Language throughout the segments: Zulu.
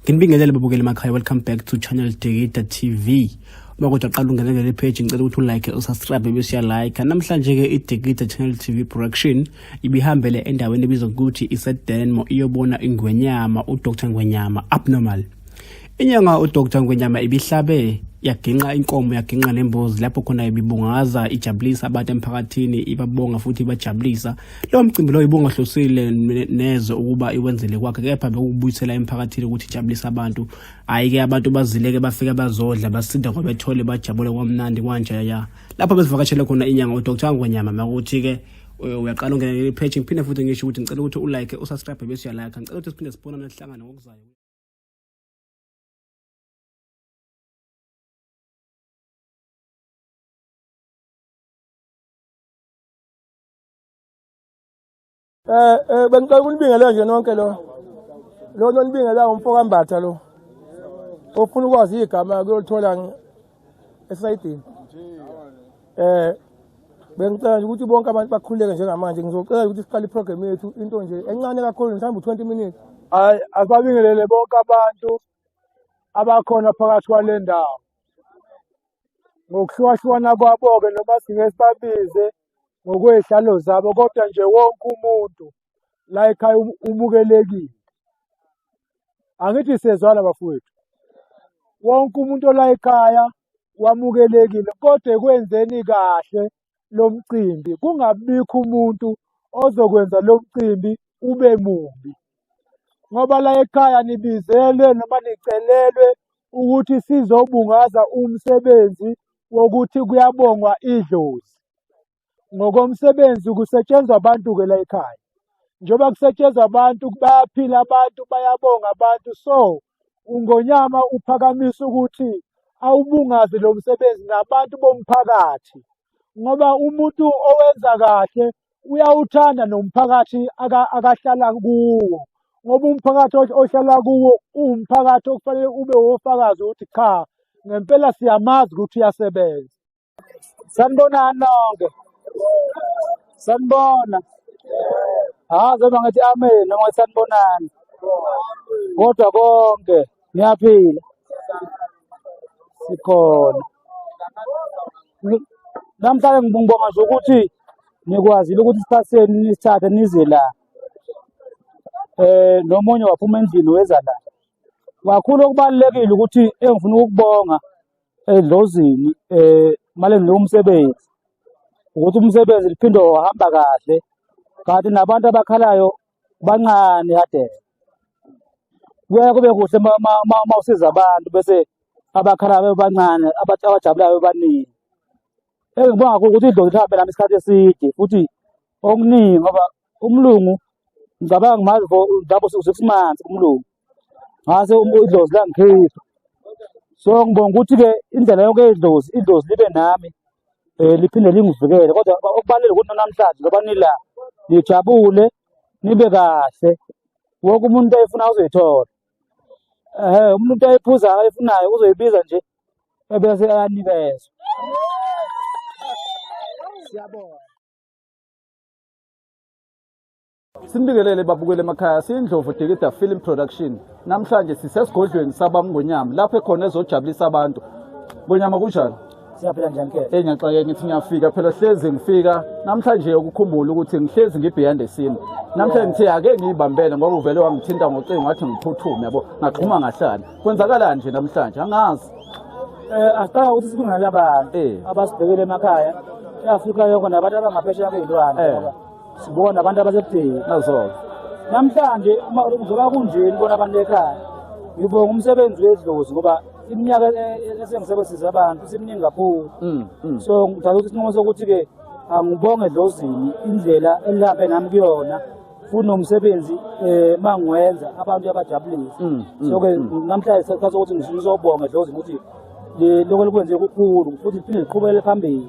Nginibingelele babukeli makhaya welcome back to channel Degida TV. Uma kodwa qala ungenele le page ngicela ukuthi ulike usubscribe bese uyalike. Namhlanje ke iDegida Channel TV production ibihambele endaweni ebizwa ukuthi iseDenmo iyobona ingwenyama uDr Ngwenyama abnormal. Inyanga uDr Ngwenyama ibihlabe yaginqa inkomo yaginqa nembuzi lapho khona ibibungaza ijabulisa abantu emphakathini ibabonga futhi ibajabulisa Lo mcimbi lo ibungahlosile neze ukuba iwenzele kwakhe kepha bekubuyisela emphakathini ukuthi ijabulise abantu. Hayi ke abantu bazileke bafike bazodla basinda ngoba bethole bajabule kwamnandi kwanjaya ya. Lapho besivakashele khona inyanga uDr. Ngonyama makuthi ke eh, uyaqala ungena le page ngiphinde futhi ngisho ukuthi ngicela ukuthi ulike usubscribe bese uyalike ngicela ukuthi siphinde sibonane sihlangane ngokuzayo Eh eh bengicela ukunibingelela nje nonke lo. Lo nonibingela umfoka Mbatha lo. Ofuna ukwazi igama kuyolithola esayidini. Eh bengicela nje ukuthi bonke abantu bakhuleke njengamanje ngizocela ukuthi siqale iprogram yethu into nje encane kakhulu mhlawumbe 20 minutes. Hayi asibabingelele bonke abantu abakhona phakathi kwale ndawo. Ngokuhlukahlukana kwabo-ke noma singe sibabize ngokwezihlalo zabo kodwa nje wonke umuntu la ekhaya um-, umukelekile angithi sezwana bafowethu wonke umuntu ola ekhaya wamukelekile kodwa ekwenzeni kahle lo mcimbi kungabikho umuntu ozokwenza lo mcimbi ube mubi ngoba la ekhaya nibizelwe noma nicelelwe ukuthi sizobungaza umsebenzi wokuthi kuyabongwa idlozi. Ngokomsebenzi kusetshenzwa abantu-ke la ekhaya. Njengoba kusetshenzwa abantu, bayaphila abantu, bayabonga abantu. So, uNgonyama uphakamisa ukuthi awubungaze lo msebenzi nabantu bomphakathi. ngoba umuntu owenza kahle uyawuthanda nomphakathi aka- akahlala kuwo ngoba umphakathi ohl- ohlala kuwo uwumphakathi okufanele ube wofakazi ukuthi cha ngempela siyamazi ukuthi uyasebenza sanibonani nonke sanibona hayi zoba ngathi amen noma sanibonani kodwa konke Ngiyaphila. Sikhona. Ngi- Namhlanje ngibonga nje ukuthi nikwazile ukuthi isikhathi senu nisithathe nize la. Eh nomunye waphuma endlini weza la. Kakhulu okubalulekile ukuthi engifuna ukukubonga edlozini eh maleni umsebenzi ukuthi umsebenzi liphinde uhamba kahle kanti nabantu abakhalayo bancane kade kuyaye kube kuhle uma usiza abantu bese abakhala bebancane abajabulayo bebaningi engibonga kuyo ukuthi idlozi lihambe nami isikhathi eside futhi okuningi ngoba umlungu ngicabanga mazi for ngabo six months umlungu ngase um, idlozi langikhipha so ngibonga ukuthi-ke indlela yonke idlozi idlozi libe nami um liphinde lingivikele kodwa okubalulekile ukuthi nanamhlanje ngoba nila nijabule nibe kahle wonke umuntu ayifuna uzoyithola um umuntu ayiphuzayo ayifunayo uzoyibiza nje ebese ayanikezwa siyabona Sinibingelele babukele emakhaya siyindlovu Dikida Film Production. Namhlanje sisesigodlweni sabamngonyama lapho ekhona ezojabulisa abantu. Ngonyama kunjani? Siyaphila njani ke? Eh ngiyaxakeka ngithi ngiyafika phela hlezi ngifika namhlanje ukukhumbula ukuthi ngihlezi ngibeyond esini. Namhlanje ngithe ake ngiyibambele ngoba uvele wangithinta ngocingo wathi ngiphuthume yabo ngaxhuma ngahlala. Kwenzakalani nje namhlanje? Angazi. Eh asicanga ukuthi sikungalaba eh. abasibhekele emakhaya. Afrika yonke nabantu abangaphesheya kwezilwane. Eh. sibona abantu abasekudeni nazoke namhlanje uma kuzoba kunjeni bona abantu ekhaya ngibonga umsebenzi wedlozi ngoba iminyaka e- e- esengisebenzisa abantu siminingi kakhulu Mm, mm. so ngithatha ukuthi isinqumo sokuthi-ke angibonge edlozini indlela elihambe nami kuyona futhi nomsebenzi um ma ngiwenza abantu yabajabulisa Mm, mm, so-ke namhlanje sekuthatha ukuthi ngizobonga edlozini ukuthi le- lokho likwenze kukhulu futhi liphinde liqhubekele phambili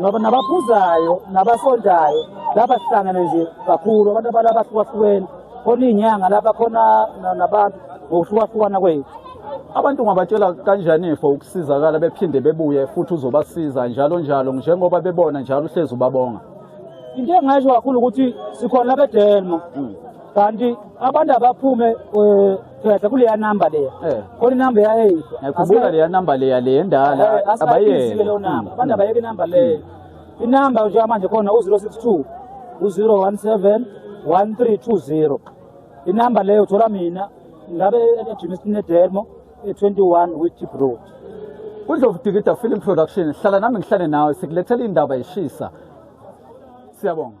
ngoba nabaphuzayo nabasondayo laba sihlangene nje kakhulu abantu abala abahlukahlukene khona iy'nyanga lapha khona nabantu ngokuhlukahlukana kwethu abantu ungabatshela kanjani for ukusizakala bephinde bebuye futhi uzobasiza njalo njalo njengoba bebona njalo uhlezi ubabonga into engasho kakhulu ukuthi sikhona labedelmo mm. kanti abantu abaphume um gcwetha kuleya namba leya Eh. khona inamba eyayeyiswa ngiyakhumbula leya namba leya le endala abayeke leyo abayeke namba abantu abayeke inamba leyo inamba njengamanje khona u-zero six two u-zero one seven one three two zero inamba leyo uthola mina ngabe ejunisini edemo e-twenty one witip road kudlovu dikida film production hlala nami ngihlale nawe sikulethela indaba ishisa siyabonga